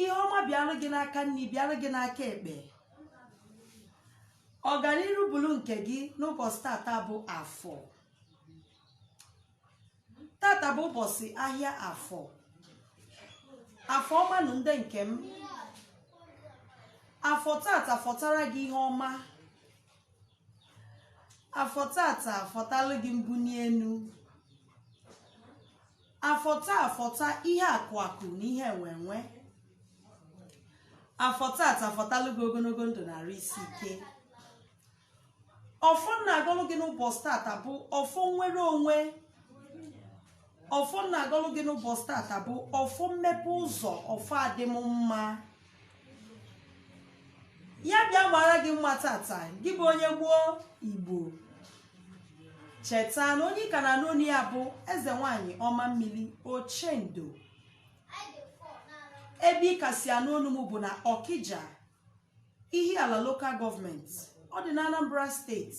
ihe ọma bịara gị n'aka nri bịara gị n'aka ekpe ọganiru bụrụ nke gị n'ụbọsị tata bụ afọ tata bụ ụbọsị ahịa afọ afọ ọma nụ ndị nke m afọ tata fọtara gị ihe ọma afọ tata fọtalụ gị mbuni enu afọ taa fọta ihe akụ akụ na ihe enwe enwe afọ tata fọtalụ gị ogologo ndụ na arụ isi ike ọfọ m na-agọlụ gị n'ụbọsị tata bụ ọfọ nwere onwe ọfọ m na-agọlụ gị n'ụbọsị tata bụ ọfọ mmepe ụzọ ọfọ adị m mma ya bịa mara gị mma tata gị bụ onye gboo igbo cheta na onye ị ka na-anụ onu ya bụ eze nwanyị ọma mmiri ochendo ebe ị ka si anụ onu m bụ na ọkija ihiala local government ọ dị na anambra state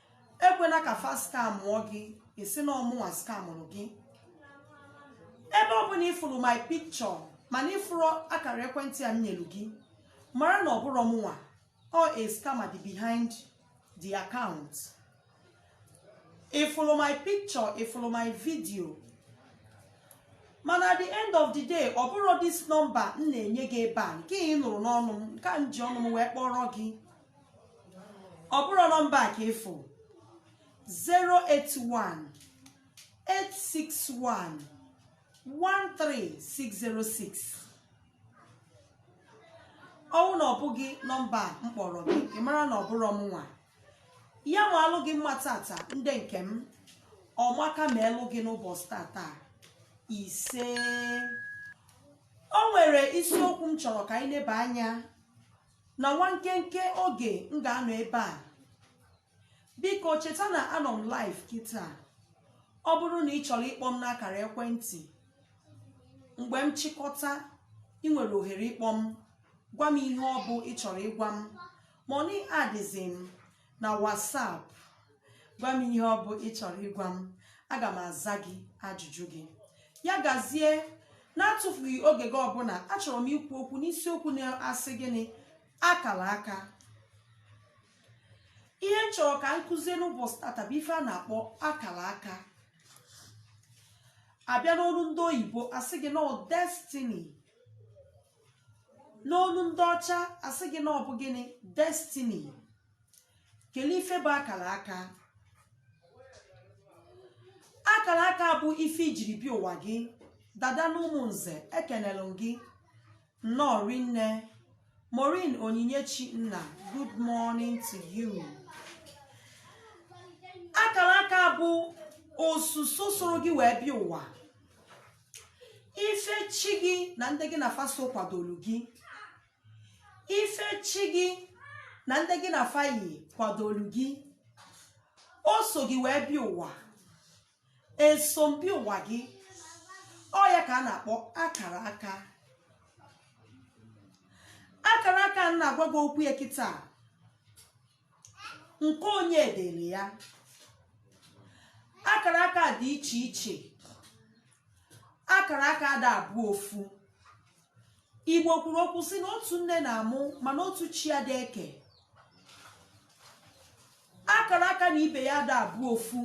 ekwela ka fa skamụọ gị ị sị na ọ mụnwa skamụrụ gị ebe ọ bụla ịfụrụ my picture mana ịfụrọ akara ekwentị a m nyelu gị mara na ọ bụrọ mụnwa ọ scammer dị behind the account ịfụrụ my picture ịfụrụ my video mana at the end of the day ọ bụrọ this number m na-enye gị ebe a nke ị nụrụ n'ọnụ m nke a m ji ọnụ m wee kpọrọ gị ọ bụrọ nọmba a ka ị fụ 081 861 13606 ọ wụ na ọ bụghị nọmba a m kpọrọ gị ị mara na ọ bụrọ mụnwa ya maalụ gị mma tata ndị nke m ọmaka ma elụ gị n'ụbọsị tata ise o nwere isiokwu m chọrọ ka anyị leba anya na nwa nkenke oge m ga-anọ ebe a biko cheta na anọ m live kịta ọ bụrụ na ị chọrọ ịkpọ m n'akara ekwentị mgbe m chịkọta ị nwere ohere ịkpọ m gwa m ihe ọ bụ ị chọrọ ịgwa m ma ọ bụ ị adịzi m na WhatsApp gwa m ihe ọ bụ ị chọrọ ịgwa m aga m aza gị ajụjụ gị ya gazie na-atụfughị oge gị ọbụla achọrọ m ikwu okwu n'isiokwu na-asị gịnị akara aka ihe m chọrọ ka m kuzie n'ụbọsị tata bụ ife a na-akpọ akara aka a bịa n'olu ndị oyibo a sị gị na ọ destiny n'olu ndị ọcha asị gị na ọ bụ gịnị destiny kelee ife bụ akara aka akara aka bụ ife i jiri bịa ụwa gị dada na ụmụ nze ekenelụ m gị nnọọ rinne morin onyinyechi nna good morning to you akara aka bụ osuso soro gị wee bịa ụwa ife chi gị na ndị gị na fa so kwadoro gị ife chi gị na ndị gị na fa yi kwadoro gị o so gị wee bịa ụwa eso m bịa ụwa gị ọ ya ka a na-akpọ akara aka akara aka m na-agwa gị okwu ya kịta nke onye dịrị ya akara aka dị iche iche akara aka ada abụ ofu igbo kwuru okwu si na otu nne na-amụ mana otu chi adị eke akara aka na ibe ya ada abụ ofu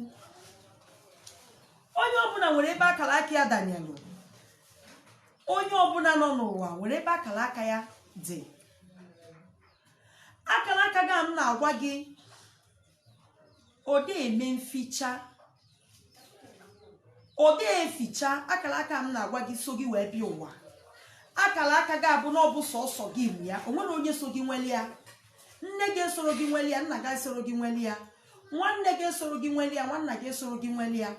onye ọbụla nwere ebe akara aka ya danyelụ onye ọbụla nọ n'ụwa nwere ebe akara aka ya dị akara aka gị a m na-agwa gị ọ dị eme nficha ọ dị eficha akara aka m na-agwa gị so gị wee bịa ụwa akara aka gị a bụ na ọ bụ sọsọ gị nwe ya o nwere onye so gị nweli ya nne gị esoro gị nweli ya nna gị esoro gị nweli ya nwanne gị esoro gị nweli ya nwanna gị esoro gị nweli ya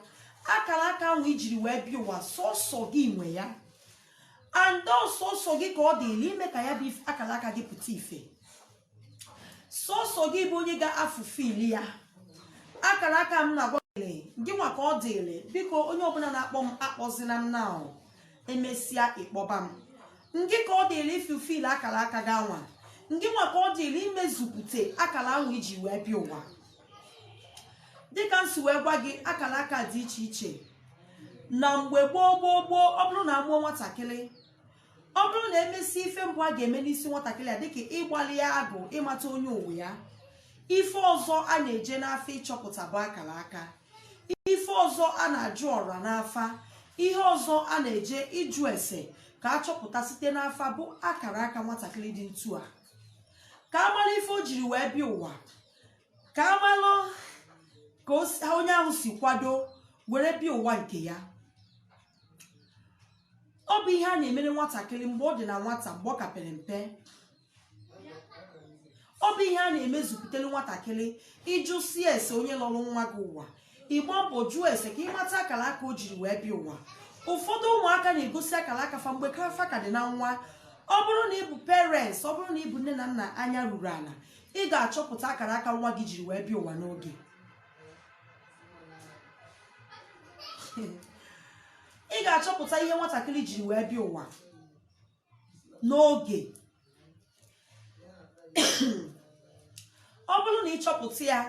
akara aka ahụ i jiri wee bịa ụwa sọsọ gị nwe ya and sọsọ gị ka ọ dịlị ime ka ya bụ akara aka gị pụta ife sọsọ gị bụ onye ga-afulfil ya akara aka m na-agwa gị ngị nwa ka ọ dịlị biko onye ọbụla na-akpọ m akpọzila m now emesịa ị kpọba m ngị ka ọ dịlị ifulfil akara aka gị anwa ngị nwa ka ọ dịlị imezupụta akara ahụ i ji wee bịa ụwa dịka m si wee gwa gị akara aka dị iche iche na mgbe gboo gboo gboo ọ bụrụ na amụọ nwatakịrị ọ bụrụ na emesịa ife mbụ a ga-eme n'isi nwatakịrị a dịka ịgbalị ya agụ ịmata onye ụwa ya ife ọzọ a na-eje n'afa ịchọpụta bụ akara aka ife ọzọ a na-ajụ ọra n'afa ihe ọzọ a na-eje ịjụ ese ka a chọpụta site n'afa bụ akara aka nwatakịrị dị ntu a ka a mara ife o jiri wee bịa ụwa ka a malụ ka onye ahụ si kwado were bịa ụwa nke ya ọ bụ ihe a na-emere nwatakịrị mgbe ọ dị na nwata mgbe ọ ka pere mpe ọ bụ ihe a na-emezupụtara nwatakịrị ị jụsịa ese onye lọrọ nwa gị ụwa ị gba mbọ jụọ ese ka ị mata akara aka o jiri wee bịa ụwa ụfọdụ ụmụaka na-egosi akara aka fa mgbe ka fa ka dị na nwa ọ bụrụ na ị bụ parents ọ bụrụ na ị bụ nne na nna anya ruru ala ị ga-achọpụta akara aka nwa gị jiri wee bịa ụwa n'oge ị ga-achọpụta ihe nwatakịrị jiri wee bịa ụwa n'oge ọ bụrụ na ị chọpụta ya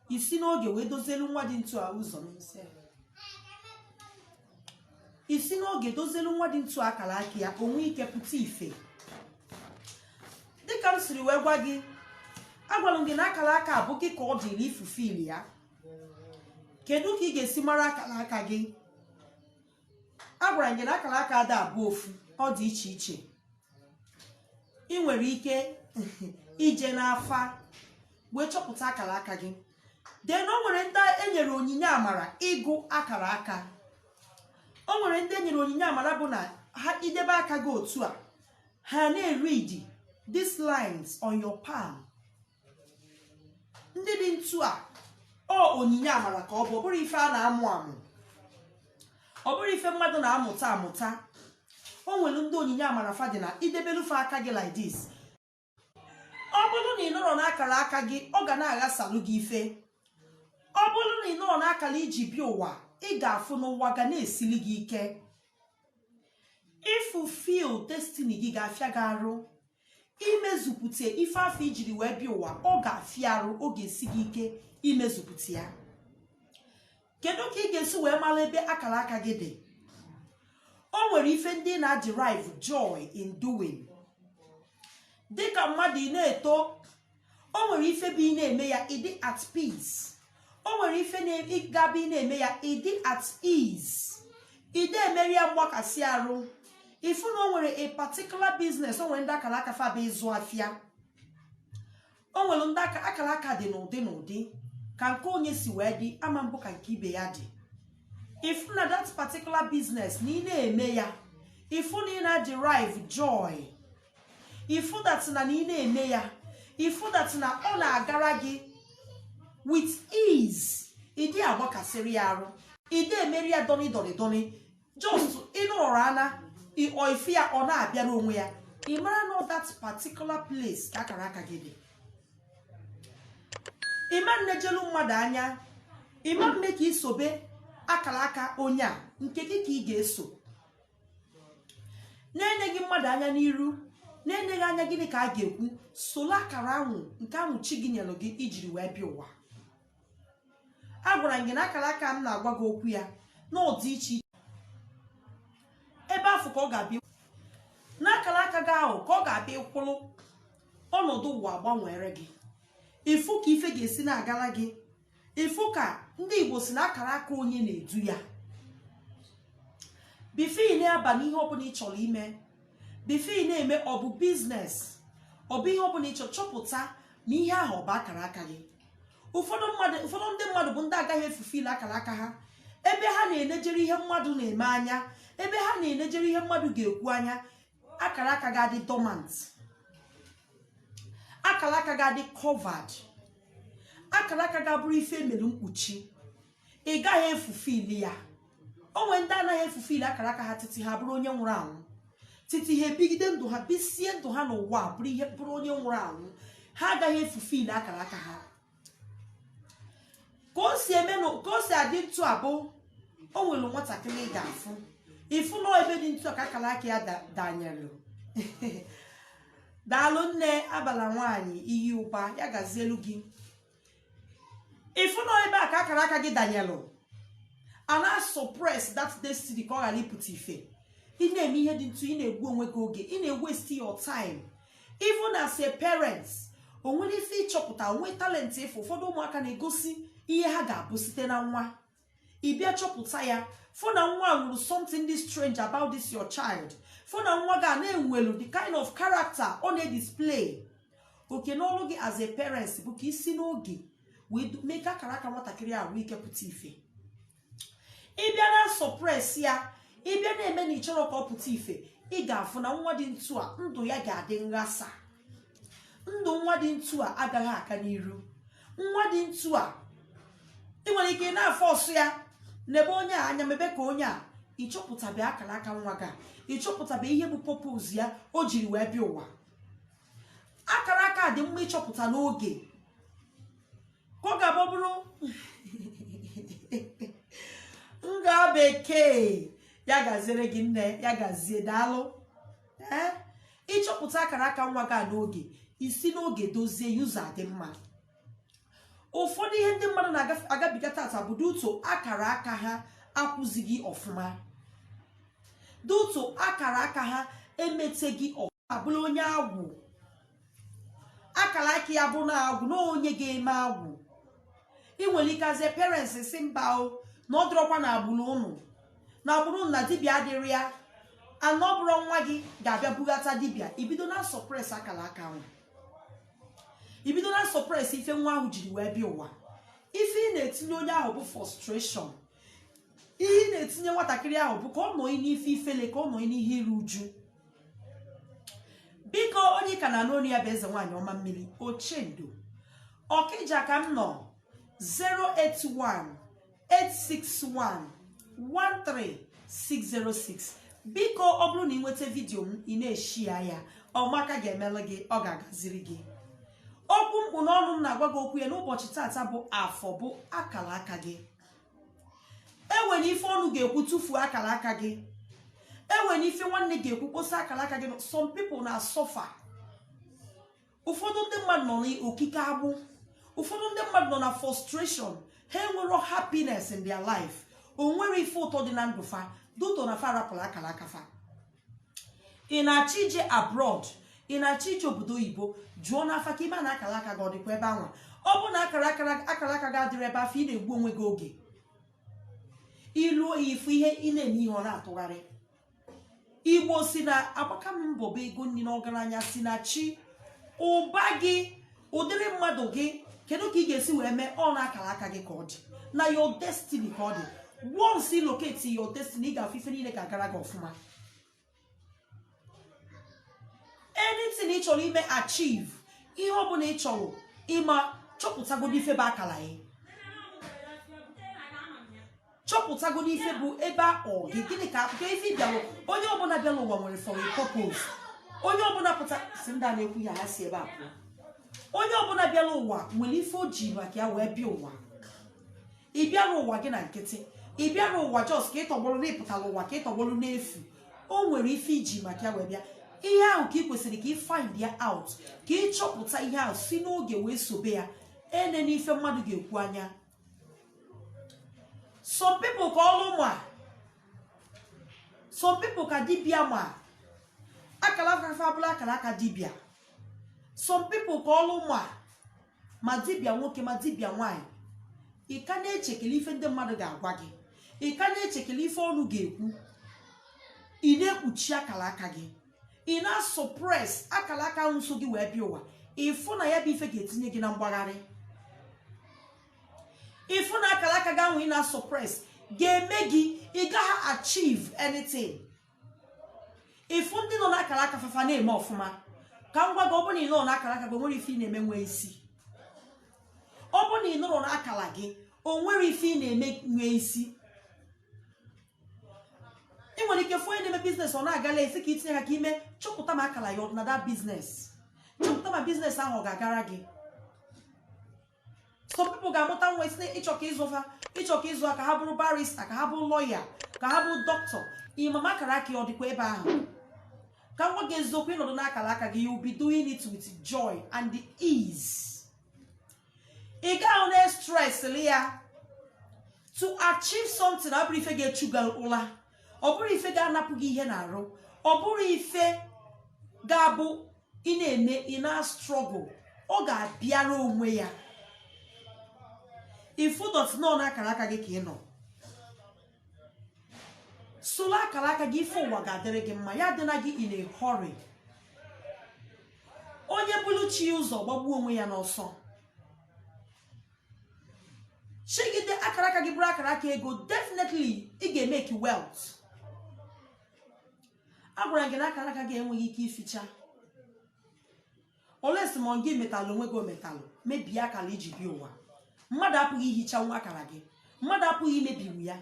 i si n'oge wee dozielu nwa dị ntu a ụzọ i si n'oge dozielu nwa dị ntu a akara aka ya ka o nwee ike pụta ife dịka m siri wee gwa gị agwara m gị na akara aka abụghị ka ọ dịrị ifufe ili ya kedu ka ị ga-esi mara akara aka gị agwara m gị na akara aka ada abụ ofu ọ dị iche iche ị nwere ike ije n'afa wee chọpụta akara aka gị then o nwere ndị e nyere onyinye amara ịgụ akara aka o nwere ndị e nyere onyinye amara bụ na ha i debe aka gị otu a ha na-eread these lines on your palm ndị dị ntu a ọ onyinye amara ka ọ bụ ọ bụrọ ife a na-amụ amụ ọ bụrọ ife mmadụ na-amụta amụta o nwere ndị onyinye amara fa dị na i debelu fa aka gị like this ọ bụrụ na ị nọrọ n'akara aka gị ọ ga na-aghasalụ gị ife ọ bụrụ na ị nọrọ n'akara i ji bịa ụwa ị ga-afụ na ụwa ga na-esili gị ike ịfulfil destiny gị ga-afịa gị arụ imezupụta ife afụ i jiri wee bịa ụwa ọ ga-afịa arụ ọ ga-esi gị ike imezupụta ya kedu ka ị ga-esi wee mara ebe akara aka gị dị o nwere ife ndị ị na-derive joy in doing dịka mmadụ ị na-eto o nwere ife bụ ị na-eme ya ị dị at peace o nwere ife ga-abụ ị na-eme ya ị dị at ease ị da emeri ya mgbakasị arụ ị fụ na o nwere a particular business o nwere ndị akara aka fa bụ ịzụ afịa o nwere ndị akara aka dị n'ụdị n'ụdị ka nke onye si wee dị ama abụ ka nke ibe ya dị ị fụ na that particular business na ị na-eme ya ị fụ na ị na-derive joy ifudatị na na ị na-eme ya ifudatị na ọ na-agara gị with ease ị dị agbakasịrị ya arụ ị dị emeri ya dọni dọni dọni just ị nọrọ ana ife ya ọ na-abịara onwe ya ị mara na that particular place ka akara aka gị dị ị ma nnejelu mmadụ anya ị ma mme ka i sobe akara aka onye a nke gị ka ị ga-eso na-eneghị mmadụ anya n'iru na-eneghị anya gịnị ka a ga-ekwu sola akara anwụ nke anwụ chi gị nyelụ gị i jiri wee bịa ụwa agwara m gị na akara aka m na-agwa gị okwu ya na ọ dị iche iche ebe afụ ka ọ ga-abịa n'akara aka gị ahụ ka ọ ga-abịa ị kwụrụ ọnọdụ ụwa agbanweere gị ị fụ ka ife ga-esi na-agara gị ị fụ ka ndị igbo si na akara aka onye na-edu ya before ị na-aba n'ihe ọbụla ị chọrọ ime before ị na-eme ọ bụ business ọ bụ ihe ọbụla ị chọrọ chọpụta ma ihe ahụ ọ bụ akara aka gị ụfọdụ mmadụ ụfọdụ ndị mmadụ bụ ndị agaghị efulfill akara aka ha ebe ha na-enejere ihe mmadụ na-eme anya ebe ha na-enejere ihe mmadụ ga-ekwu anya akara aka gị adị dormant akara aka gị adị covered akara aka gị abụrụ ife mere mkpuchi ị gaghị efulfill ya o nwe ndị anaghị efulfill akara aka ha titi ha bụrụ onye nwụrụ anwụ titi ha ebigide ndụ ha bisie ndụ ha n'ụwa bụrụ ihe bụrụ onye nwụrụ anwụ ha agaghị efulfill akara aka ha ka o si eme na ka o si adị ntụ a bụ o nwere nwatakịrị ị ga-afụ ị fụ na ebe dị ntụ a ka akara aka ya da- danyelụ daalụ nne abala nwaanyị iyi ụba ya gazielu gị ị fụ na ebe a ka akara aka gị danyelụ a na-asuppress that destiny ka ọ ghara ịpụta ife ị na-eme ihe dị ntụ ị na-egbu onwe gị oge ị na-ewaste your time even as a parent o nwere ife ị chọpụta o nwe talent ife ụfọdụ ụmụaka na-egosi ihe ha ga-abụ site na nwa ị bịa chọpụta ya fụ na nwa nweru something dị strange about this your child fụ na nwa gị a na-enwelu the kind of character ọ na-edisplay oke n'ọrụ gị as a parent bụ ka i si n'oge wee mee ka akara aka nwatakịrị a nwee ike pụta ife ị bịa na-asuppress ya ị bịa na-eme na ị chọrọ ka ọ pụta ife ị ga-afụ na nwa dị ntụ a ndụ ya ga-adị nghasa ndụ nwa dị ntụ a agaghị aga n'iru nwa dị ntụ a ị nwere ike ị na-aforce ya nebe onye a anya mebe ka onye a ị chọpụtabe akara aka nwa gị a, ị chọpụtabe ihe bụ purpose ya o jiri wee bịa ụwa akara aka dị mma ịchọpụta n'oge ka ọ ga-abụ bụrụ nga bekee ya gaziere gị nne ya gazie daalụ ee ịchọpụta akara aka nwa gị a n'oge isi n'oge dozie ụzọ dị mma ụfọdụ ihe ndị mmadụ na-agabiga taata bụ due to akara aka ha akwụzighị ọfụma due to akara aka ha emeteghị ọfụma abụla onye agwụ akara aka ya bụ na agwụ na onye ga-eme agwụ ị nwere ike as parents si mba o na ọ dịrọkwa na agbụrụ ụnụ na agbụrụ ụnụ na dibịa adịrọ ya mana ọ bụrụ nwa gị ga-abịa bubata dibịa i bido na-suppress akara aka ahụ i bido na-suppress ife nwa ahụ jiri wee bịa ụwa ife ị na-etinye onye ahụ bụ frustration ihe ị na-etinye nwatakịrị ahụ bụ ka ọ nọdị n'ife ifele ka ọ nọdị n'ihe iru uju biko onye ka na-anụ onu ya bụ eze nwaanyị ọma mmiri ochendo ọkịja ka m nọ 081-861-13606 biko ọ bụrụ na ị nweta vidiyo m ị na-eshare ya ọmaka ga-emelụ gị ọ ga-agaziri gị okwu m kpụ n'ọnụ m na-agwa gị okwu ya n'ụbọchị taata bụ afọ bụ akara aka gị enwere ife ọnụ ga-ekwu tufuo akara aka gị enwere ife nwanne ga-ekwu kposa akara aka gị some people na-asuffer ụfọdụ ndị mmadụ nọ n'okike agbụ ụfọdụ ndị mmadụ nọ na frustration ha enwerọ happiness in their life o nwerọ ife ụtọ dị na ndụ fa due to na fa rapụrụ akara aka fa ị na-achọ ije abroad ị na-achọ ije obodo oyibo jụọ n'afa ka ị mara ma akara aka gị ọ dịkwa ebe anwa ọ bụrụ na akara aka gị adịrọ ebe afụ ị na-egbu onwe gị oge i luo ya ị fụ ihe ị na-eme ihe ọ na-atụgharị igbo si na agbaka m mbọ bụ ego nri na ọgaranya si na chi ụba gị ụdịrị mmadụ gị kedu ka ị ga-esi wee mee ọ n'akara aka gị ka ọ dị na your destiny ka ọ dị once ị locate your destiny ị ga-afụ ife niile ga-agara gị ọfụma anything ị chọrọ ime achieve ihe ọ bụla ị chọrọ ime chọpụtagodo ife bụ akara gị chọpụtagodo ife bụ ebe a kpọrọ gị gịnị ka akụkọ ife bịalụ onye ọbụla bịalụ ụwa nwere for a purpose onye ọbụla pụta si ndị a na-ekwu ya ha si ebe a pụọ onye ọbụla bịara ụwa nwere ife o ji maka ya wee bịa ụwa ị bịarọ ụwa gị na nkịtị ị bịarọ ụwa just ka ị tọgbọrọ na ị pụtarọ ụwa ka ị tọgbọrọ n'efu o nwere ife i ji maka ya wee bịa ihe ahụ ka ị kwesịrị ka ị find ya out ka ị chọpụta ihe ahụ si n'oge wee sobe ya enena ife mmadụ ga-ekwu anya some people ka ọlụ ma some people ka dibia ma akara aka fa abụla akara aka dibia some people ka ọlụ ma ma dibia nwoke ma dibia nwanyị ị ka na-echekele ife ndị mmadụ ga-agwa gị ị ka na-echekele ife ọnụ ga-ekwu ị na-ekpuchi akara aka gị ị na-asọpres akara aka ahụ so gị wee bịa ụwa ịfụ na ya bụ ife ga-etinye gị na mgbagharị ịfụ na akara aka gị ahụ ị na-asọpres ga-eme gị ị gaghị achieve anything ịfụ ndị nọ n'akara aka fa fa na-eme ọfụma ka m gwa gị ọ bụrụ na ị nọrọ n'akara aka gị onwere ife ị na-eme nwee isi ọ bụrụ na ị nọrọ n'akara gị onwere ife ị na-eme nwee isi ị nwere ike fụ onye na-eme biznes ọ na-agala ị sị ka i tinye aka ka i mee chọpụta ma akara ya ọ dị na that biznes chọpụta ma biznes ahụ ọ ga-agara gị some people ga-amụta nwa isi ịchọ ka ịzụ ha ịchọ ka ịzụ ha ka ha bụrụ barista ka ha bụrụ lọya ka ha bụrụ dọkịta ị ma ma akara aka ya ọ dịkwa ebe ahụ ka m gwa gị eziokwu ị nọdụ n'akara aka gị you be doing it with joy and ease ị gaghị na-estresịrị ya to achieve something ọ bụrọ ife ga-echu gị ụla ọ bụrọ ife ga-anapụ gị ihe n'arụ ọ bụrọ ife ga-abụ ị na-eme ị na-strọgụl ọ ga-abịara onwe ya if ị nọ n'akara aka gị ka ị nọ soro akara aka gị ife ụwa ga-adịrị gị mma ya adịla gị in a hurry onye buru chi ya ụzọ gbagbuo onwe ya n'ọsọ jigide akara aka gị bụrụ akara aka ego definitely ị ga-emeki wealth agwara m gị na akara aka gị enweghị ike ificha unless ma gị metalụ onwe gị ometalụ mebie akara i ji bịa ụwa mmadụ apụghị ihichanwu akara gị mmadụ apụghị imebiwu ya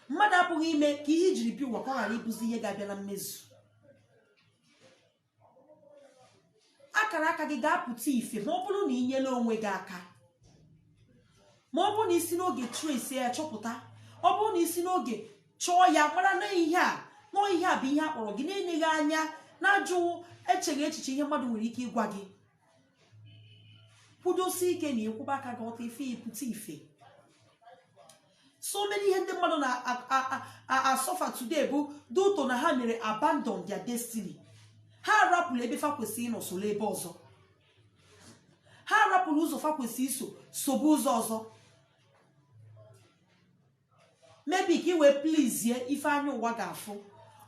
mmadụ apụghị ime ka ihe i jiri bịa ụwa ka ọ ghara ịbụzi ihe ga-abịa na mmezu akara aka gị ga-apụta ife ma ọ bụrụ na ị nyela onwe gị aka ma ọ bụrụ na i si n'oge trace ya chọpụta ọ bụrụ na i si n'oge chọọ ya mara na ihe a na ọ ihe a bụ ihe a kpọrọ gị na-eleghị anya n'azụ echeghị echiche ihe mmadụ nwere ike ịgwa gị kwudosie ike na ịkwụba aka gị ọtọ ife ịpụta ife so many ihe ndị mmadụ na-asọfa today bụ due to na ha mere abandon their destiny ha arapụrụ ebe fa kwesịrị ịnọ soro ebe ọzọ ha arapụrụ ụzọ fa kwesịrị iso sobe ụzọ ọzọ maybe ka i wee plizie ife anya ụwa ga-afụ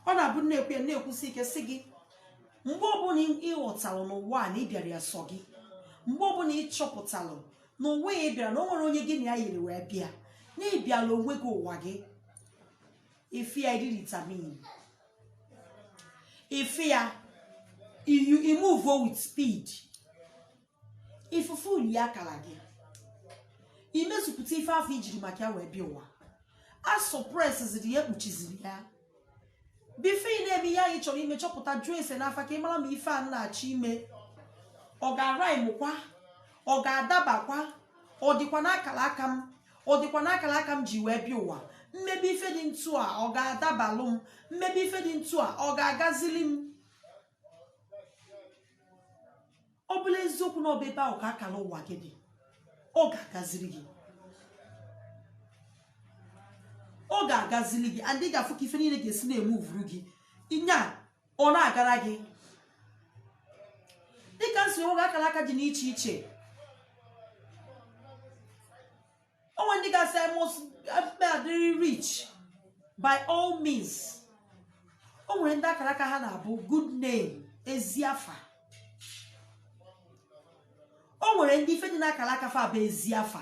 ọ na-abụ na-ekwu ya na-ekwusi ike sị gị mgbe ọbụla ị ghọtalụ na ụwa a na ị bịara ya sọ gị mgbe ọbụla ị chọpụtalụ na ụwa a ị bịara na o nwerọ onye gị na ya yiri wee bịa na ị bịalụ onwe gị ụwa gị ife ya iri vitamin ife ya imuvo with speed ifulfilụ akala gị imezupụta ife afụ i jiri maka ya wee bịa ụwa a sọpresiziri ya ekpuchiziri ya before ị na-eme ihe ahụ ị chọrọ ime chọpụta jụọ ese n'afa ka ị mara ma ife a na-achọ ime ọ ga-araimụkwa ọ ga-adabakwa ọ dịkwa n'akara aka m ọ dịkwa n'akara aka m ji wee bịa ụwa m mebe ife dị ntu a ọ ga-adabalụ m m mebe ife dị ntu a ọ ga-agazili m ọ bụlụ eziokwu na ọ bụ ebe ahụ ka akara ụwa gị dị ọ ga-agaziri gị ọ ga-agaziri gị and ị ga-afụ ka ife niile ga-esi na-emuvuru gị nya ọ na-agara gị dịka m si gwa gị akara aka dị n'iche iche o nwere ndị ga-asị I must be adịrị rich by all means o nwere ndị akara aka ha na-abụ good name ezi afa o nwere ndị ife dị n'akara aka fa bụ ezi afa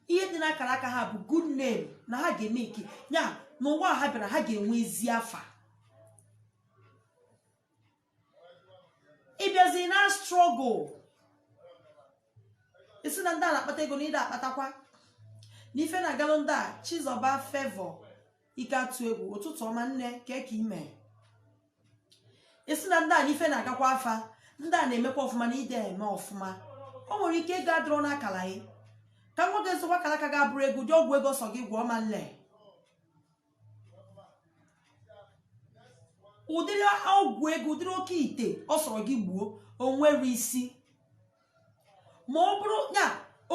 ihe dị n'akara aka ha bụ good name na ha ga-eme nke ya n'ụwa ha bịara ha ga-enwe ezi afa ị bịazi na-strọgụl ị sị na ndị a na-akpata ego na ị da-akpatakwa na ife na-agalụ ndị a Chizọba Favour Ikeatụegwu ụtụtụ ọma nne kee ka ị me ị sị na ndị a na ife na-agakwa fa ndị a na-emekwa ọfụma na ị da-eme ọfụma o nwere ike ego adịrọ n'akala gị ka m gwa gị eziokwu akala aka gị abụrọ ego ụdị ọgwụ ego sọ gị gwọọ ọ ma nle ụdịrị ọgwụ ego ụdịrị oke ite ọ sọrọ gị gbuo o nwerọ isi ma ọ bụrụ ya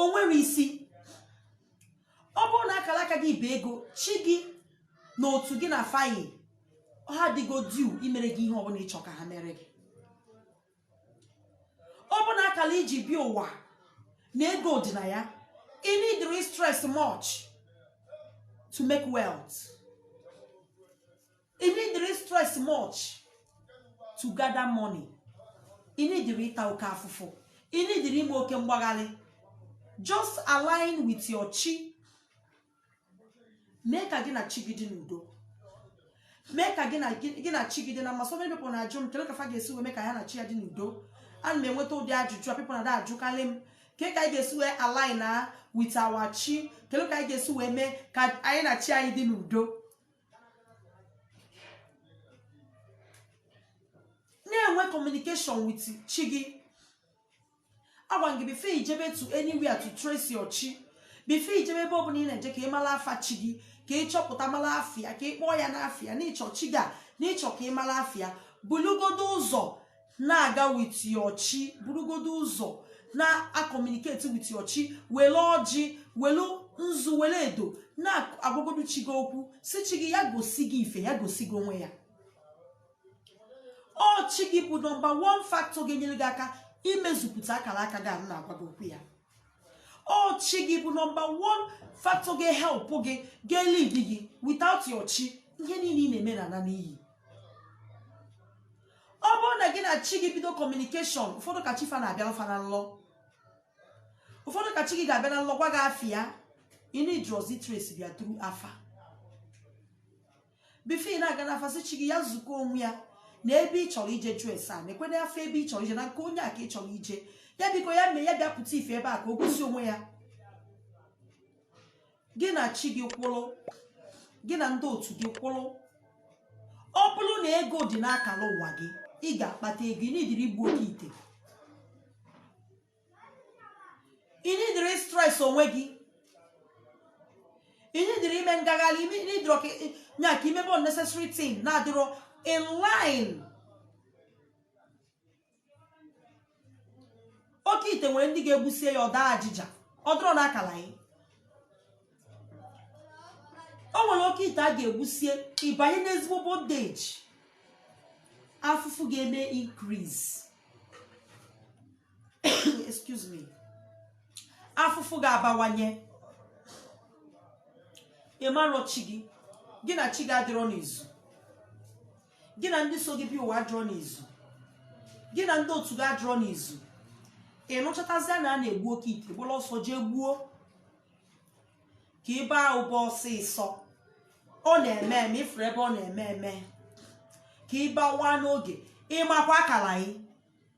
o nwere isi ọ bụrụ na akara aka gị bụ ego chi gị na otu gị na fa yi ha adịgo due imere gị ihe ọbụla ị chọ ka ha mere gị ọ bụ na akala i ji bịa ụwa na ego dị na ya ị nidirọ istress much to make wealth ị nidirọ istress much to gather money ị nidirọ ịta oke afụfụ ị nidirọ ime oke mgbagharị just align with your chi mee ka gị na chi gị dị n'udo mee ka gị na gị na chi gị dị na mma so many people na-ajụ m kedu ka fa ga-esi wee mee ka ya na chi ya dị n'udo ana m enweta ụdị ajụjụ a people na-ada ajụkarị m ke ka anyị ga-esi wee align na with our chi kedu ka anyị ga-esi wee mee ka anyị na chi anyị dị n'udo na-enwe communication with chi gị agwa m gị before ijebe to anywhere to trace your chi before ijebe ebe ọbụla ị na-eje ka ị mara afa chi gị ka ị chọpụta mara afa ya ka ị kpọọ ya n'afa ya n'ịchọ chi gị a n'ịchọ ka ị mara afa ya bulugodo ụzọ na-aga with your chi burugodo ụzọ na-akọmuniketi with your chi were ọjị were nzu were edo na-agwagodo chi gị okwu sị chi gị ya gosi gị ife ya gosi gị onwe ya ọ chi gị bụ nọmba wan faktọ ga-enyere gị aka imezupụta akara aka gị anụ na-agwa gị okwu ya ọ chi gị bụ nọmba wan faktọ ga-ehelpụ gị ga-elid gị without your chi ihe niile ị na-eme na-ana n'iyi ọ bụrụ na gị na chi gị bido kọmunikeshọn ụfọdụ ka chi fa na-abịara fa na nlọ ụfọdụ ka chi gị ga-abịa na nlọ gwa gị afa ya ị na-ejezi tracebe ya tru afa bifo ị na-aga n'afa sị chi gị ya zukọ onwe ya na ebe ị chọrọ ije jụọ ese a na-ekwe n'afa ebe ị chọrọ ije na nke onye a ka ị chọrọ ije ya biko ya mee ya bịa pụta ife ebe a ka o gosi onwe ya gị na chi gị kwụrụ gị na ndị otu gị kwụrụ ọ bụrụ na ego dị n'akara ụwa gị ị ga-akpata ego ị nidirọ igbu oke ite ị nidirọ ịstres onwe gị ị nidirọ ime ngagharị ị nidirọ ịkanye aka imebe unnecessary thing na-adịrọ in line oke ite nwere ndị ga-egbusie ya ọ daa ajịja ọ dịrọ n'akala gị o nwere oke ite a ga-egbusie ị banye n'ezigbo bondeji afụfụ ga-eme increase excuse me afụfụ ga-abawanye ị marọ chi gị gị na chi gị adịrọ n'izu gị na ndị so gị bịa ụwa adịrọ n'izu gị na ndị otu gị adịrọ n'izu ị nụchatazịa na a na-egbu oke ite gbara ọsọ jee gbuo ka ị baa ụba ọsịsọ ọ na-eme eme ị fụrụ ebe ọ na-eme eme ka ị bawa n'oge ị makwa akara gị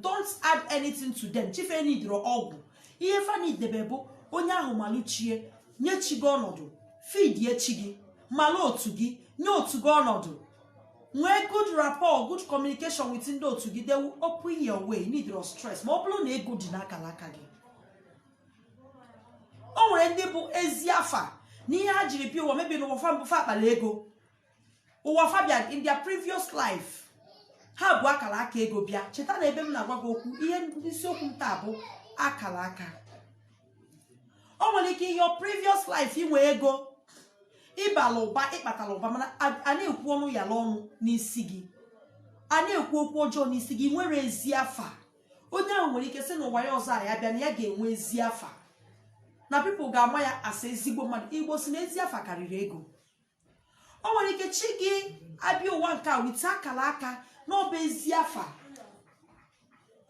don't add anything to them chi fa enidrọ ọgwụ ihe fa nidi ebe bụ onye ahụ malụ chi ya nye chi gị ọnọdụ fidie chi gị mala otu gị nye otu gị ọnọdụ nwee good rapport good communication with ndị otu gị they will open your way ị nidrọ stress ma ọ bụrụ na ego dị n'akara aka gị o nwere ndị bụ ezi afa na ihe ha jiri bịa ụwa maybe n'ụwa fa mbụ fa akpara ego ụwa fa bịa in their previous life ha bu akara aka ego bịa cheta na ebe m na-agwa gị okwu ihe isiokwu m taa bụ akara aka o nwere ike your previous life i nwee ego ị bala ụba ị kpatara ụba mana a- a na-ekwu ọnụ ya n'ọnụ n'isi gị a na-ekwu okwu ọjọọ n'isi gị i nwerọ ezi afa onye ahụ nwere ike sị na ụwa ya ọzọ a ya bịa na ya ga-enwe ezi afa na people ga-ama ya as ezigbo mmadụ igbo sị na ezi afa karịrị ego o nwere ike chi gị abịa ụwa nke a wite akara aka na ọ bụ ezi afa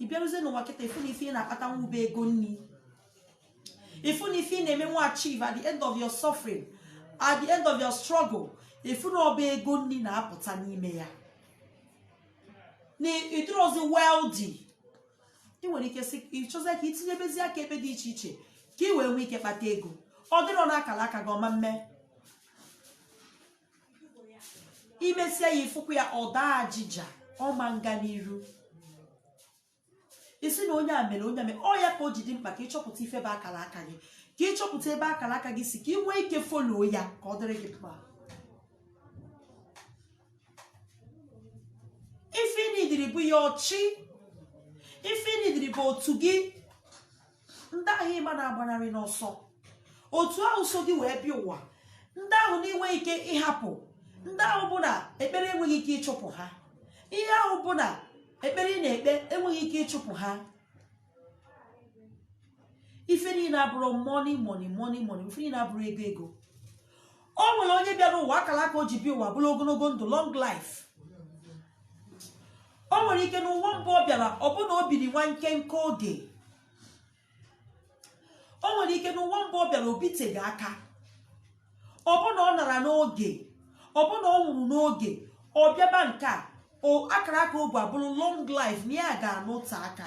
ị bịaruzie n'ụwa kịta ị fụ na ife ị na-akpata nwa bụ ego nri ị fụ na ife ị na-eme wee achieve at the end of your suffering at the end of your struggle ị fụ na ọ bụ ego nri na-apụta n'ime ya na ị dịrọzi wealthy ị nwere ike sị ị chọzie ka i tinyebezie aka ebe dị iche iche ka ị wee nwee ike kpata ego ọ dịrọ na akara aka gị ọ ma mme i mesịa ya ị fụkwa ya ọ daa ajịja ọ ma nga n'iru ị sị na onye a mere onye a mere ọ ya ka o ji dị mkpa ka ị chọpụta ife bụ akara aka gị ka ị chọpụta ebe akara aka gị si ka ị nwee ike follow ya ka ọ dịrị gị mma ife ị nidiri bụ your chi ife ị nidiri bụ otu gị ndị ahụ ị ma na-agbanarị n'ọsọ otu ahụ so gị wee bịa ụwa ndị ahụ na i nweghị ike ịhapụ ndị ahụ bụ na ekpere enweghị ike ịchụpụ ha ihe ahụ bụ na ekpere ị na-ekpe enweghị ike ịchụpụ ha ife niile abụrụ money money money money ife niile abụrụ ego ego o nwere onye bịara ụwa akara aka o ji bịa ụwa bụrụ ogologo ndụ long life o nwere ike na ụwa mbụ ọ bịara ọ bụ na o biri nwa nkenke oge o nwere ike na ụwa mbụ ọ bịara o biteghị aka ọ bụ na ọ nara n'oge ọ bụ na ọ nwụrụ n'oge ọ bịaba nke a akara aka o bu abụrụ long life na ya ga-anọte aka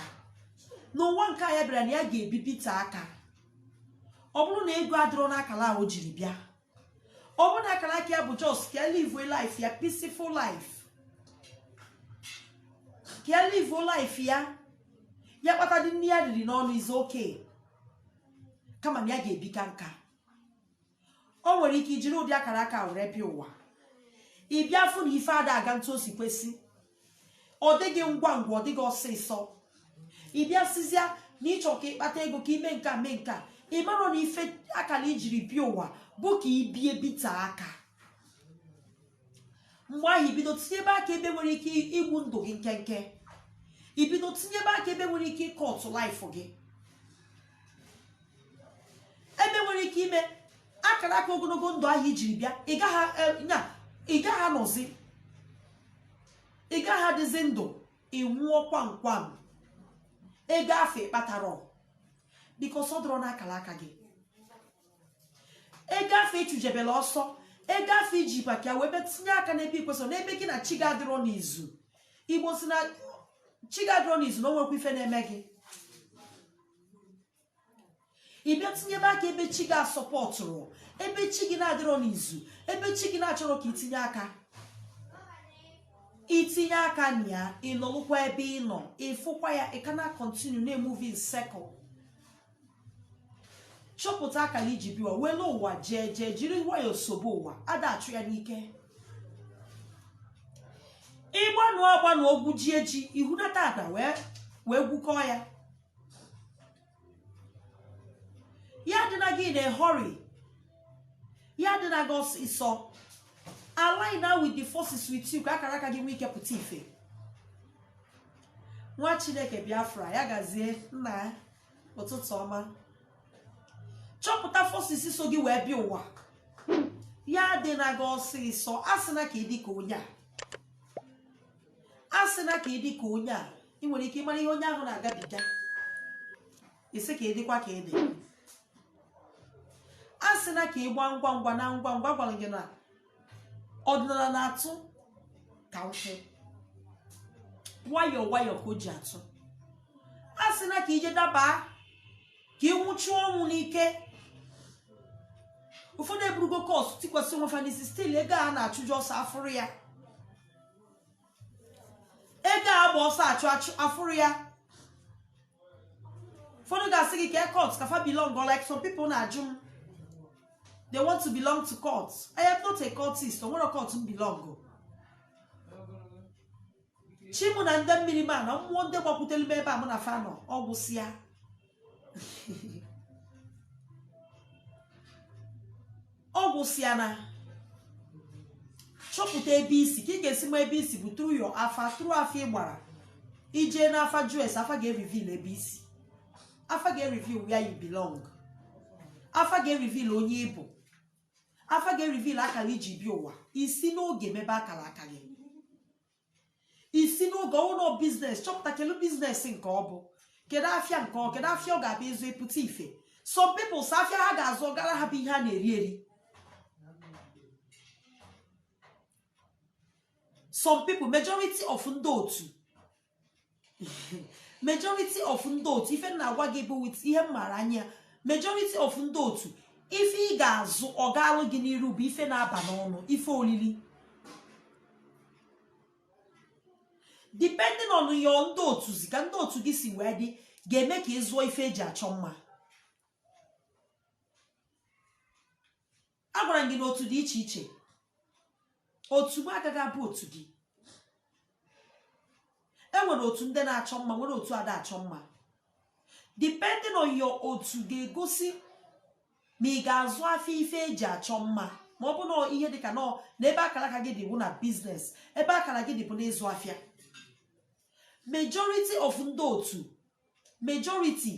n'ụwa nke a ya bịara na ya ga-ebibite aka ọ bụrụ na ego adịrọ n'akara o jiri bịa ọ bụrụ na akara aka ya bụ just ka ya live life ya peaceful life ka ya live life ya ya kpatadị nke ya riri n'ọnụ is okay kama na ya ga-ebi kaa nka o nwere ike ijiri ụdị akara aka a were bịa ụwa ị bịa fụ na ife ada aga etu o si kwesị ọ dịghị ngwa ngwa ọ dịghị ọsịsọ ị bịa sịzia na ịchọ ka ịkpata ego ka ime nke a mee nke a ị marọ na ife akara ijiri bịa ụwa bụ ka ibie bite aka mgbe ahụ ibido tinyebe aka ebe nwere ike igbu ndụ gị nkenke ibido tinyebe aka ebe nwere ike ị cut life gị ebe nwere ike ime akara aka ogologo ndụ ahụ ijiri bịa ị gaghị eh, nya ị gaghị anọzi ị gaghị adịzi ndụ ị nwụọ kwam kwam ego afụ ị kpatara because ọ dịrọ n'akara aka gị ego afụ ị chụjebere ọsọ ego afụ iji baka wee bịa tinye aka n'ebe ikwesịrọ n'ebe gị na chi gị adịrọ n'izu igbo sị na chi gị adịrọ n'izu na o nwerọkwa ife na-eme gị ị bịa tinyebe aka ebe chi gị asupportụrọ ebe chi gị na-adịrọ n'izu ebe chi gị na-achọrọ ka itinye aka itinye aka na ya ịnọlụkwa ebe ị nọ ịfụkwa ya ị ka na-acontinue na-emove in circle chọpụta akara iji bịa ụwa were ụwa jeje jiri nwayọọ sobe ụwa ada achụ ya n'ike ịgbanụ agbanụ gwujie ji ihunata ana wee wee gwukọọ ya ya adịna gị na hurry ya adịna gị ọsịsọ align now with the forces with you ka akara aka gị nwee ike pụta ife nwa chineke biafra ya gazie nna ya ụtụtụ ọma chọpụta forces so gị wee bịa ụwa ya adịna gị ọsịsọ asịna ka ịdị ka onye a asịna ka ịdị ka onye a ị nwere ike ịmara ihe onye ahụ na-agabiga ị sị ka ịdịkwa ka ịdị asịna ka ịgba ngwa ngwa na ngwa ngwa gwara gị na ọdịnala na-atụ ka nkwụ nwayọọ nwayọọ ka o ji atụ asịna ka ije dabaa ka ịnwụchuo ọnwụ n'ike ụfọdụ eburugo curse tikwasị onwe fa n'isi still ego a na-achụje ọsọ afụrọ ya ego agba ọsọ achụ achụ afụrọ ya ụfọdụ ga-asị gị kee cult ka fa belong or like some people na-ajụ m they want to belong to cult I am not a cultist o nwerọ cult m belong chi mụ na ndị mmiri m na mmụọ ndị gbakwutere m ebe a mụ na fa nọ ọgwụsịa ọ gwụsịa na chọpụta ebe i si ka ị ga-esi ma ebe i si bụ through your afa through afa ị gbara i jee n'afa just afa ga-ereveal ebe i si afa ga-ereveal where you belong afa ga-ereveal onye ị bụ afa ga-ereveal akara i ji bịa ụwa i si n'oge mebe akara aka gị i si n'oge ọ wụlụ business chọpụta kedu business nke ọ bụ kedu afịa nke ọ kedu afịa ọ ga-abụ ị zụọ ị pụta ife some people sọ afịa ha ga-azụ ọ gaara ha bụ ihe a na-eri eri some people majority of ndị otu majority of ndị otu ife m na-agwa gị bụ with ihe m maara anya majority of ndị otu ife ị ga-azụ ọ gaalụ gị n'iru bụ ife na-aba n'ọnụ ife olili depending on your ndị otu zi ka ndị otu gị si wee dị ga-eme ka ị zụọ ife e ji achọ mma agwara m gị na otu dị iche iche otu m agaghị abụ otu gị e nwere otu ndị na-achọ mma nwere otu ada achọ mma depending on your otu ga-egosi ma ị ga-azụ afịa ife e ji achọ mma ma ọ bụ na ihe dị ka nọọ na ebe akara aka gị dị bụ na business ebe akara gị dị bụ n'ịzụ afịa majority of ndị otu majority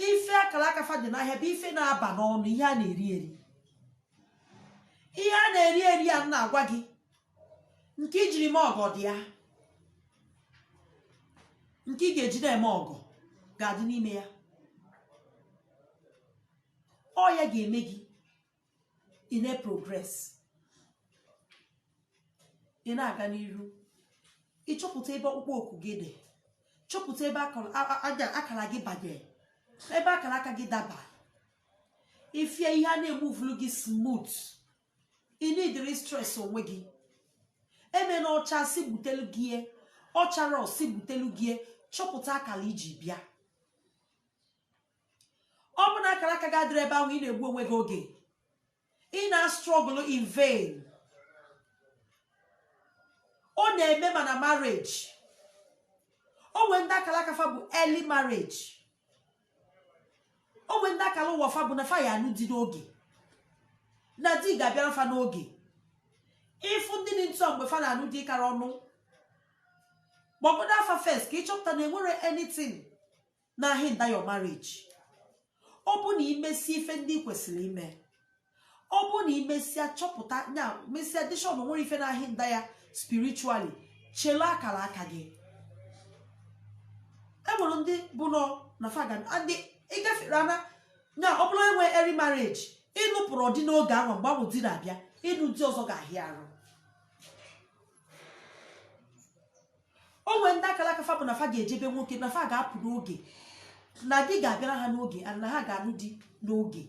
ife akara aka fa dị n'ahịa bụ ife na-aba n'ọnụ ihe a na-eri eri ihe a na-eri eri ya m na-agwa gị nke i jiri mee ọgọ dị ya nke ị ga-eji na-eme ọgọ ga-adị n'ime ya ọ ya ga-eme gị ị na-progress ị na-aga n'iru ị chọpụta ebe ọkpụkpọ oku gị dị chọpụta ebe akara gị banye ebe akara aka gị daba ifie ihe a na-emuvulu gị smooth i needirọ stress onwe gị eme na ọcha si butelu gị ọchara osi butelu gị chọpụta akara i ji bịa ọ bụ na akara aka gị adịrọ ebe ahụ ị na-egbu onwe gị oge ị na-astruggle in vain ọ na-eme ma na marriage o nwee ndị akara aka fa bụ early marriage o nwee ndị akara ụwa fa bụ na fa ya-anụ di n'oge na di ga-abịara fa n'oge ị fụ ndị dị otu a mgbe fa na-anụ di kara ọnụ gbagodo afa first ka ị chọpụta na e nwere anything na-ahinder your marriage ọ bụ na imesi ife ndị ị kwesịrị ime ọ bụ na imesịa chọpụta ya mesịa dishọn nwere ife na-ahinder ya spiritually chela akara aka gị enwere ndị bụ nọ na fagan ndị ịgafere ana na ọ bụrụ enwe early marriage ị nụpụrọ di n'oge ahụ mgbe ahụ di na-abịa ịnụ di ọzọ ga-ahịa arụ o nwee ndị akara aka fa bụ na fa ga-eje be nwoke na fa ga-apụ n'oge na di ga-abịara ha n'oge and na ha ga-alụ di n'oge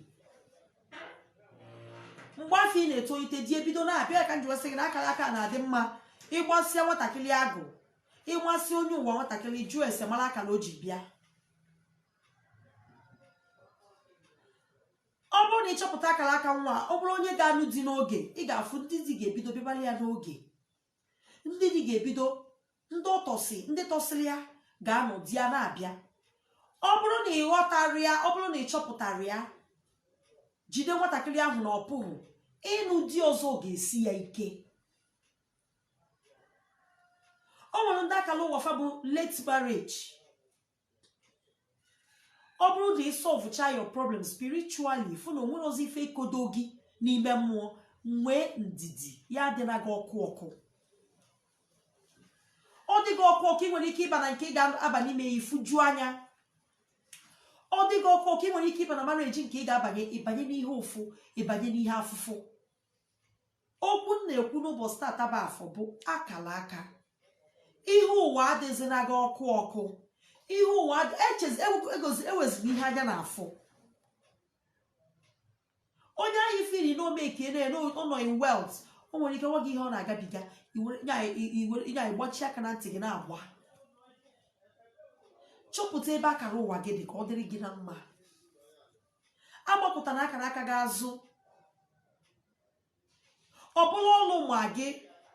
mgbe afụ ị na-etolite di ebido na-abịa ka m ji wee sị gị na akara aka na-adị mma ị gbasịa nwatakịrị agụ ịgbasị onye ụwa nwatakịrị jụọ ese mara akara o ji bịa ọ bụrụ na ị chọpụta akara aka nwa ọ bụrụ onye ga-alụ di n'oge ị ga-afụ ndị di ga-ebido bịabara ya n'oge ndị di ga-ebido ndị ọ tọsị ndị tọsịrị ya ga-anọ di ya na-abịa ọ bụrụ na ị ghọtara ya ọ bụrụ na ị chọpụtara ya jide nwatakịrị ahụ na ọ pụghị ịnụ di ọzọ ga-esi ya ike o nwere ndị akala ụwa fa bụ late marriage ọ bụrụ na ị solvecha your problem spiritually fụ na o nwerọzi ife ikodo gị n'ime mmụọ nwee ndidi ya adịna gị ọkụ ọkụ ọ dị gị ọkụ ọkụ ị nwere ike ịba na nke ị ga-aba n'ime ya ị fụju anya ọ dị gị ọkụ ọkụ ị nwere ike ịba na marriage nke ị ga-abanye ịbanye n'ihe ụfụ ịbanye n'ihe afụfụ okwu m na-ekwu n'ụbọchị tata bụ afọ bụ akala aka ihe ụwa adịzina gị ọkụ ọkụ ihe ụwa ewezụga e ihe anya na afọ onye anyị feel na o meka ị na-ere ụlọ in wealth o nwere ike gwa gị ihe ọ na-agabiga ịnya ịgbachi aka na ntị gị na-agba chọpụta ebe akara ụwa gị dị ka ọ dịrị gị na mma agbakụtana akara aka gị azụ ọ bụrụ ọlụ ma gị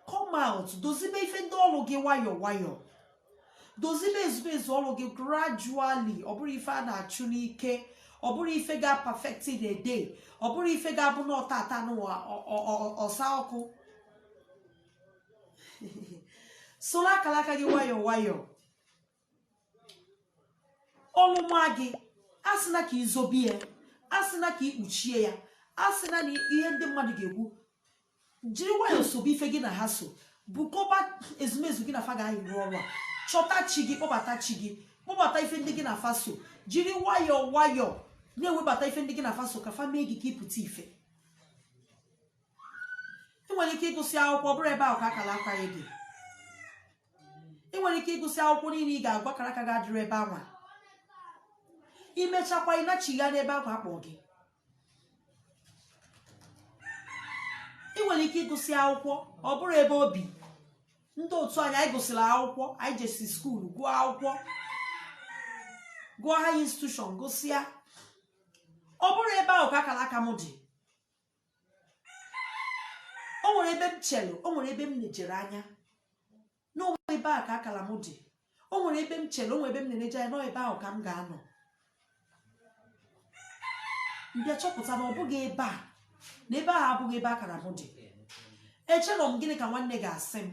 come out dozibe ife ndị ọlụ gị nwayọọ nwayọọ dozibe ezumezu ọlụ gị gradually ọ bụrọ ife a na-achụ n'ike ọ bụrọ ife ga perfect in a day ọ bụrọ ife ga-abụ na ọ tata nụwa ọ- ọ- ọ- ọsa ọkụ solu akala aka gị nwayọọ nwayọọ ọlụ ma gị asịna ka i zobe ya asịna ka i kpuchie ya asịna na ihe ndị mmadụ ga-ekwu jiri nwayọọ sobe ife gị na ha so bukọba ezumezu gị na fa ga-ayị rụọ ọrụ a chọta chi gị kpọbata chi gị kpọbata ife ndị gị na fa so jiri nwayọọ nwayọọ na-ewebata ife ndị gị na fa so ka fa mee gị ka ị pụta ife ị nwere ike ịgụsị akwụkwọ ọ bụrọ ebe ahụ ka akara aka gị dị ị nwere ike ịgụsị akwụkwọ niile ị ga-agụ akara aka gị adịrị ebe anwa i mechakwa ị nachigha n'ebe ahụ a kpọ gị ị nwere ike ịgụsị akwụkwọ ọ bụrụ ebe obi ndị otu anyị anyị gụsịrị akwụkwọ anyị jesi skuulu gụọ akwụkwọ gụọ higher institution gụsịa ọ bụrụ ebe ahụ ka akara aka m dị o nwere ebe m chere o nwere ebe m nejere anya na ọ wụ ebe a ka akara m dị o nwere ebe m chere o nwere ebe m na-eneje anya n'ebe ahụ ka m ga-anọ m bịa chọpụta na ọ bụghị ebe a na ebe ahụ abụghị ebe akara m dị echere m gịnị ka nwanne ga-asị m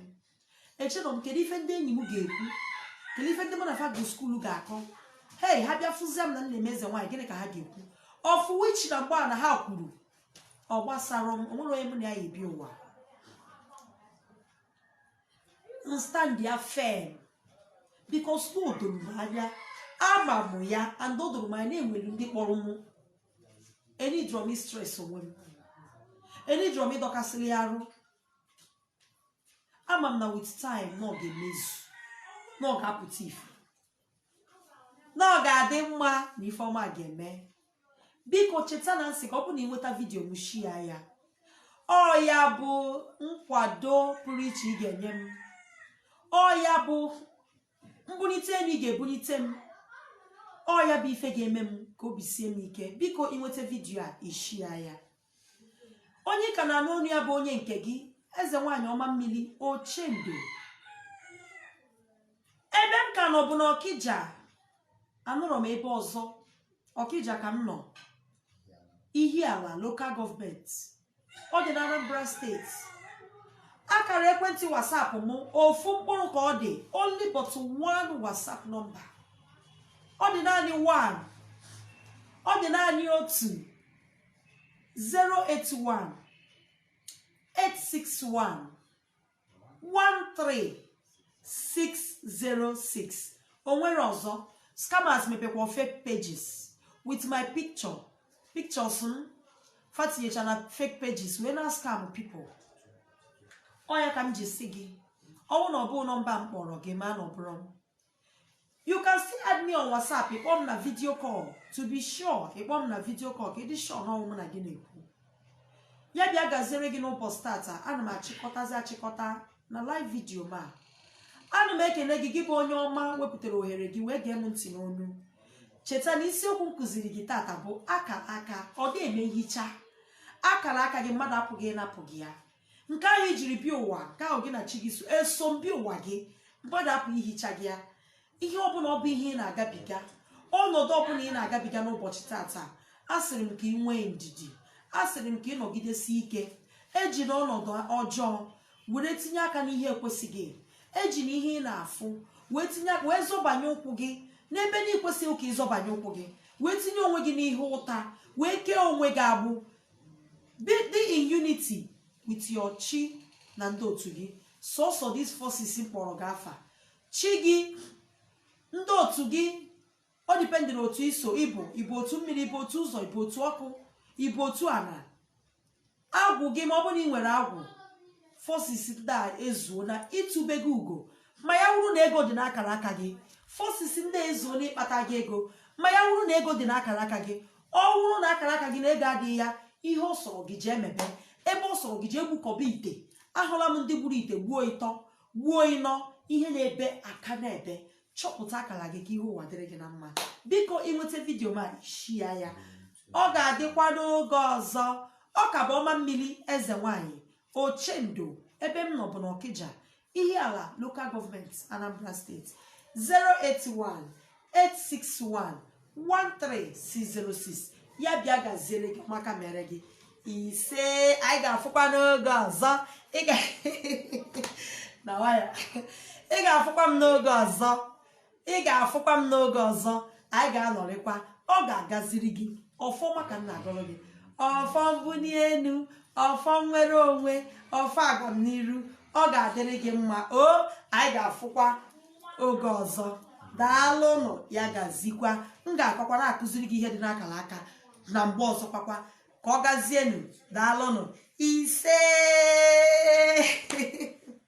echere m kedu ife ndị enyi m ga-ekwu kedu ife ndị mụ na fa gụ skuulu ga-akọ hei ha bịa fụzie m na m na-eme eze nwaanyị gịnị ka ha ga-ekwu of which na mgbe a na ha kwuru ọ gbasarọ m o nwerọ onye mụ na ya ya-ebi ụwa stand ya firm because na o doro m anya ama m ya and o doro m anya na e nwere ndị kpọrọ mụ eneedrọ m ịstress onwe m eneedrọ m ịdọkasịrị ya arụ ama m na with time na ọ ga-emezu na ọ ga-apụta ife na ọ ga-adị mma na ifeọma ga-eme biko cheta na m sị ka ọ bụ na ị nweta video m share ya ọ ya bụ nkwado pụrụ iche ị ga-enye m ọ ya bụ mbulite enu ị ga-ebulite m ọ ya bụ ife ga-eme m ka obi sie m ike biko ị nweta video a ị share ya onye ka na-anụ onu ya bụ onye nke gị eze nwaanyị ọma mmiri ochendo ebe m ka nọ bụ na ọkija anọrọ m ebe ọzọ ọkija ka m nọ ihiala local government ọ dị na anambra state akara ekwentị whatsapp m ofu mkpụrụ ka ọ dị only but one whatsapp nọmba ọ dị naanị one ọ dị naanị otu 081 861 13606 o nwerọ ọzọ scammers mepekwa fake pages with my picture pictures m fatinyecha na fake pages wee na-ascam people ọ ya ka m ji sị gị ọ wụ na ọ bụghị nọmba m kpọọrọ gị ma na ọ bụrọ m you can still add me on whatsapp ị kpọọ m na video call to be sure ị kpọọ m na video call ka ị dị sure na ọ wụ m na gị na-ekwu ya bịa gaziere gị n'ụbọsị tata ana m achịkọtazi achịkọta na live video ma ana m ekene gị gị bụ onye ọma wepụtara ohere gị wee gee m ntị n'onu cheta na isiokwu m kuziri gị tata bụ akara aka ọ ga-eme nhicha akara aka gị mmadụ apụghị ịnapụ gị ya nke ahụ i jiri bịa ụwa nke ahụ gị na chi gị so eso bịa ụwa gị mmadụ apụ ihicha gị ya ihe ọbụla ọ bụ ihe ị na-agabiga ọnọdụ ọbụla ị na-agabiga n'ụbọchị tata asịrị m ka ị nwee ndidi asịrị m ka ị nọgidesi ike ejina ọnọdụ ọjọọ were tinye aka n'ihe ekwesịghị ejina ihe ị na-afụ wee tinye aka wee zọbanye ụkwụ gị n'ebe na i kwesịghị ka ị zọbanye ụkwụ gị wee tinye onwe gị n'ihe ụta wee kee onwe gị agbụ be dị in unity with your chi na ndị otu gị sọsọ these forces kpọrọ gị afa chi gị ndị otu gị ọ dependịrị otu i so ị bụ ị bụ otu mmiri ị bụ otu ụzọ ị bụ otu ọkụ ị bụ otu ala agwụ gị ma ọ bụrụ na ị nwere agwụ forces ndị a ezuona itube gị ugo ma ya wụrụ na ego dị n'akara aka gị forces ndị a ezuona ịkpata gị ego ma ya wụrụ na ego dị n'akara aka gị ọ bụrụ na akara aka gị na ego adịghị ya ihe ọ sọrọ gị jee mebe ebe ọ sọrọ gị jee gbukọbe ite ahụla m ndị gburu ite gbuo ịtọ gbuo ịnọ ihe na-ebe aka na-ebe chọpụta akara gị ka ihe ụwa dịrị gị na mma biko ị nweta vidiyo m a shia ya ọ ga-adịkwa n'oge ọzọ ọ ka bụ ọma mmiri eze nwanyị ochendo ebe m nọ bụ n'ọkịja ihiala local gọọmenti anambra steeti 081 861 13606 ya bịa gaziere gị maka mere gị ise anyị ga-afụkwa n'oge ọzọ ị ga- na waya ị ga-afụkwa m n'oge ọzọ ị ga-afụkwa m n'oge ọzọ anyị ga-anọrịkwa ọ ga-agaziri gị ọfọ ọma ka m na-agọrọ gị ọfọ mbuli elu ọfọ nnwere onwe ọfọ agamniru ọ ga-adịrị gị mma o anyị ga-afụkwa oge ọzọ daalụnụ ya gazikwa m ga-akakwa na-akụziri gị ihe dị n'akara aka na mgbe ọzọ kwakwa ka ọ gazienụ daalụnụ ise